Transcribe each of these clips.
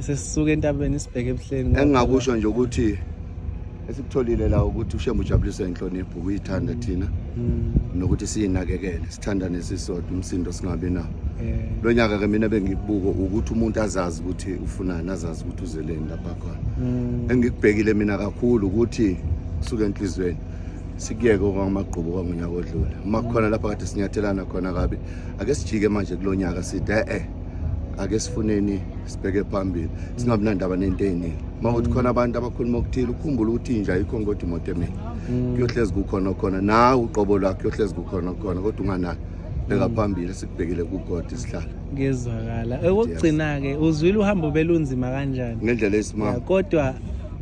sesisuke entabeni sibheke ebuhleni engingakusho nje ukuthi esikutholile la ukuthi ushembe ujabulise inhlonipho uyithanda mm. thina mm. nokuthi siyinakekele sithanda nesisodwa umsindo singabi nawo eh. lo nyaka ke mina bengibuko ukuthi umuntu azazi ukuthi ufunani azazi ukuthi uzeleni lapha khona mm. engikubhekile mina kakhulu ukuthi suke enhlizweni sikuyeke okwamagqubu kwangonyaka odlule uma kukhona lapha kade sinyathelana khona kabi ake sijike manje kulo nyaka side e-e ake sifuneni sibheke phambili singabi nandaba nento eyiningi uma kuthi khona abantu abakhuluma okuthile ukhumbula ukuthi inja ayikho ngodwa imoto emini mm. kuyohlezi kukhona okhona nawe uqobo lwakho kuyohlezi kukhona okhona kodwa unganalo bheka mm. phambili sikubhekile kugodi isihlala ngezwakala okugcina-ke uzwile uhambo belunzima kanjani ngendlela esimama kodwa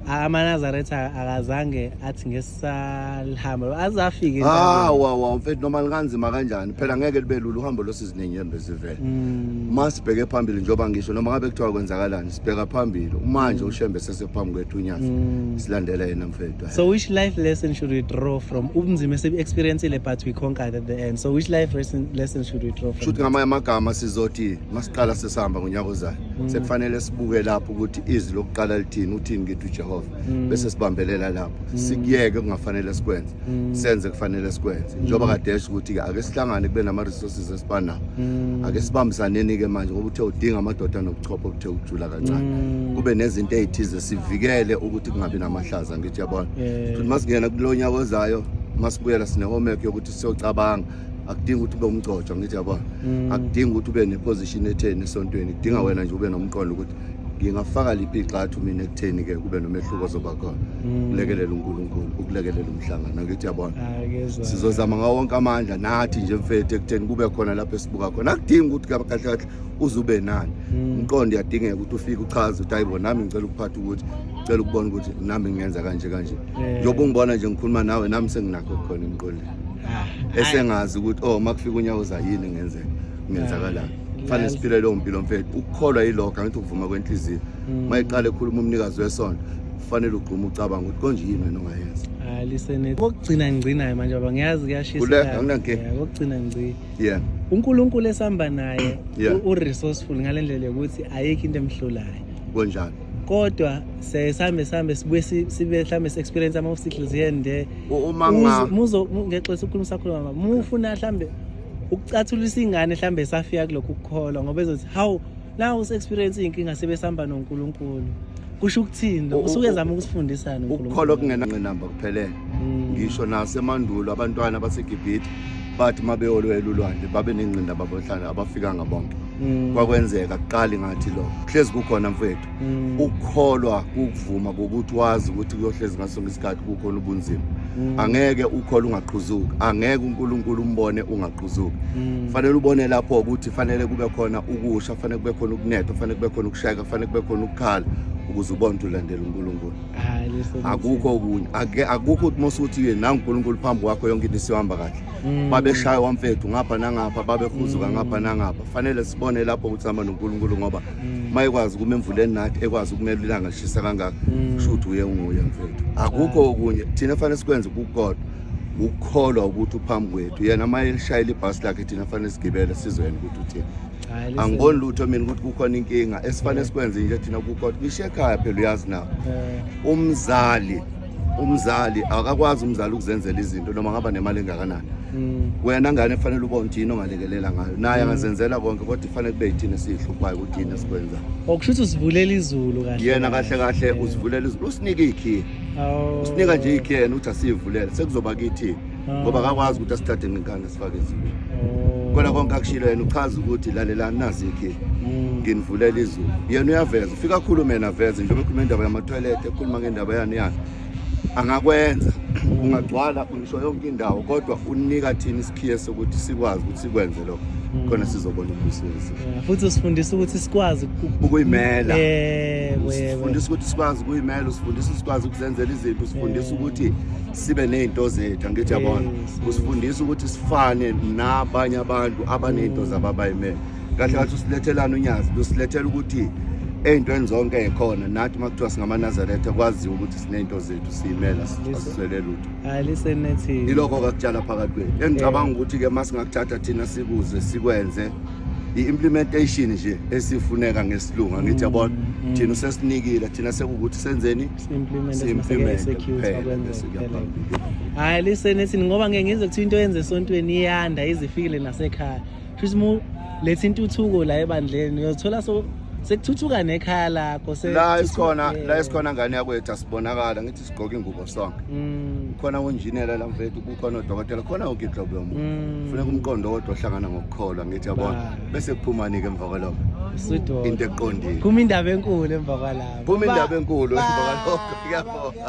amanazaretha akazange athi ngesi salihamba azafike ah wa wa mfethu noma likanzima kanjani phela ngeke libe lula uhambo losizinenyembe zivele mm. masibheke phambili njoba ngisho noma ngabe kuthiwa kwenzakalani sibheka phambili manje mm. ushembe sesephambi kwethu unyazi mm. silandela yena mfethu so which life lesson should we draw from ubunzima esibu experience le but we conquered at the end so which life lesson, lesson should we draw from shuthi ngamanye amagama sizothi masiqala sesihamba ngonyaka ozayo mm. sekufanele sibuke lapho ukuthi izwi lokuqala lithini uthini kithi uJehova mm. bese sibambelela lapho mm. sikuyeke kungafanele sikwenze mm. senze kufanele sikwenze njengoba kade esho ukuthi ake sihlangane kube nama resources esibanawo ake sibambisaneni ke manje ngoba uthe udinga amadoda nobuchopho obuthe ukujula kancane kube nezinto ezithize sivikele ukuthi kungabi namahlaza ngithi yabona futhi masingena kulonya kozayo masibuyela sine homework yokuthi siyocabanga akudingi ukuthi ube umgcotshwa ngithi yabona akudingi ukuthi ube ne position etheni esontweni kudinga wena nje ube nomqondo ukuthi ngingafaka liphi igxathu mina ekutheni ke kube nomehluko ozoba khona mm. ukulekelela uNkulunkulu ukulekelela umhlangano ngithi yabona ah, sizozama ngawo wonke amandla nathi nje mfethu ekutheni kube khona lapho esibuka khona akudingi ukuthi kahle kahle uzube nani mm. umqondo uyadingeka ukuthi ufike uchaze ukuthi hayibo nami ngicela ukuphatha ukuthi ngicela ukubona ukuthi nami ngingenza kanje kanje njengoba ungibona nje ngikhuluma nawe nami senginakho khona emqondweni ah, esengazi ukuthi oh makufika unyaka uza yini ngenzeka ngenzakalani fanele siphile leyo mpilo mfethu ukukholwa yiloga ngithi ukuvuma kwenhliziyo mm. uma iqale ekhuluma umnikazi wesonto kufanele ugqume ucabanga ukuthi konje yini wena ongayenza hayi lisene kokugcina ngigcinayo manje baba ngiyazi kuyashisa kule anginankinga yeah, kokugcina ngigcina yeah uNkulunkulu esihamba naye yeah. uresourceful ngalendlela yokuthi ayikho into emhlulayo konjani kodwa sesambe sambe sibuye sibe mhlambe si-experience ama-obstacles here and there uma ngexesha ukhuluma sakhuluma mufuna mhlambe ukucathulisa ingane mhlawumbe esafika kulokhu ukukholwa ngoba ezothi hawu nawu usu-experience iy'nkinga sebesihamba nonkulunkulu kusho ukuthini lo usuke ezama ukusifundisana ukukholwa kungenangqinamba kuphelele hmm. ngisho nasemandulo abantwana basegibhithe bathi uma beyolwela ulwandle babe nengqinda babohlala abafikanga bonke hmm. kwakwenzeka kuqali ngathi lokho hlezi kukhona mfowethu mm. ukukholwa kukuvuma kokuthi wazi ukuthi kuyohlezi ngaso ngesikhathi kukhona ubunzima mm. angeke ukhole ungaqhuzuki angeke uNkulunkulu umbone ungaqhuzuki mm. fanele ubone lapho ukuthi fanele kube khona ukusha fanele kube khona ukunetha fanele kube khona ukushayeka fanele kube khona ukukhala ukuze ubone ukuthi ulandela uNkulunkulu akukho okunye akukho ukuthi mose ukuthi ye nangu uNkulunkulu phambi kwakho yonke into isihamba kahle mm. babeshaya wamfethu ngapha nangapha babehuzuka mm. ngapha nangapha fanele sibone lapho ukuthi sihamba noNkulunkulu ngoba mayekwazi ukuma emvuleni nathi ekwazi ukumela ilanga lishisa kangaka mm. kusho ukuthi uye unguye mfethu akukho ah. okunye thina fanele sikwenze kukodwa ukukholwa ukuthi uphambi kwethu yena uma elishayela ibhasi lakhe thina fanele sigibele sizoyena ukuthi uthini angiboni lutho mina ukuthi kukhona inkinga esifanele sikwenze nje thina kukodwa ngisho ekhaya phela uyazi nawo umzali umzali akakwazi umzali ukuzenzela izinto noma ngaba nemali engakanani mm. wena ngane kufanele ubone ukuthi yini ongalekelela ngayo naye mm. angazenzela konke kodwa kufanele kube yithina esiyihluphayo ukuthi yini esikwenzayo okusho ukuthi usivulela izulu kahle yena kahle kahle usivulela izulu usinika ikhiye usinika nje ikhiye yena ukuthi asiyivulele sekuzoba kithini ngoba akakwazi ukuthi asithathe ngenkani asifake ezulwini oh. kona konke akushilo yena uchaza ukuthi lalelani nazi ikhili mm. nginivulela izulu yena uyaveza ufika akhulume yena aveze njengoba ekhuluma indaba yamatoilet ekhuluma ngendaba yani yani angakwenza ungagcwala ungisho yonke indawo kodwa unika thina isikhiye sokuthi sikwazi ukuthi sikwenze lokho Mm. khona sizobona umbuso wethu futhi usifundisa ukuthi sikwazi ukuyimela yebo yebo usifundisa ukuthi sikwazi ukuyimela usifundisa sikwazi ukuzenzela izinto usifundisa ukuthi sibe nezinto zethu angithi yabona usifundisa ukuthi sifane nabanye abantu abanezinto zababayimele kahle kathi usilethelana unyazi lusilethela ukuthi ey'ntweni zonke ekhona nathi uma kuthiwa singamaNazaretha kwaziwa ukuthi sinezinto zethu siyimela asiswele lutho ilokho kakutshala phakathi kwethu engicabanga ukuthi-ke uma singakuthatha thina sikuze sikwenze i-implementation nje esifuneka ngesilungu angithi yabona mm, mm. thina usesinikile thina sekuwukuthi senzeni implement simaseke security akwenze kuphela hayi listen listen ngoba ngeke ngize kuthiwa into yenze esontweni iyanda izifikile nasekhaya futhi mu letha intuthuko la ebandleni uyothola so sekuthuthuka nekhaya lakho la isikhona la isikhona ngane yakwethu asibonakala ngithi sigqoke ingubo sonke mm. khona unjinela la mfethu kukhona odokotela khona yonke inhlobo yomuntu mm. funeka umqondo wodwa ohlangana ngokukholwa ngithi yabona bese kuphumani-ke Babaloko. Sudo. Into eqondile. Kuma indaba enkulu emva kwalapho. Kuma indaba enkulu emva kwalokho. Kuyabonga.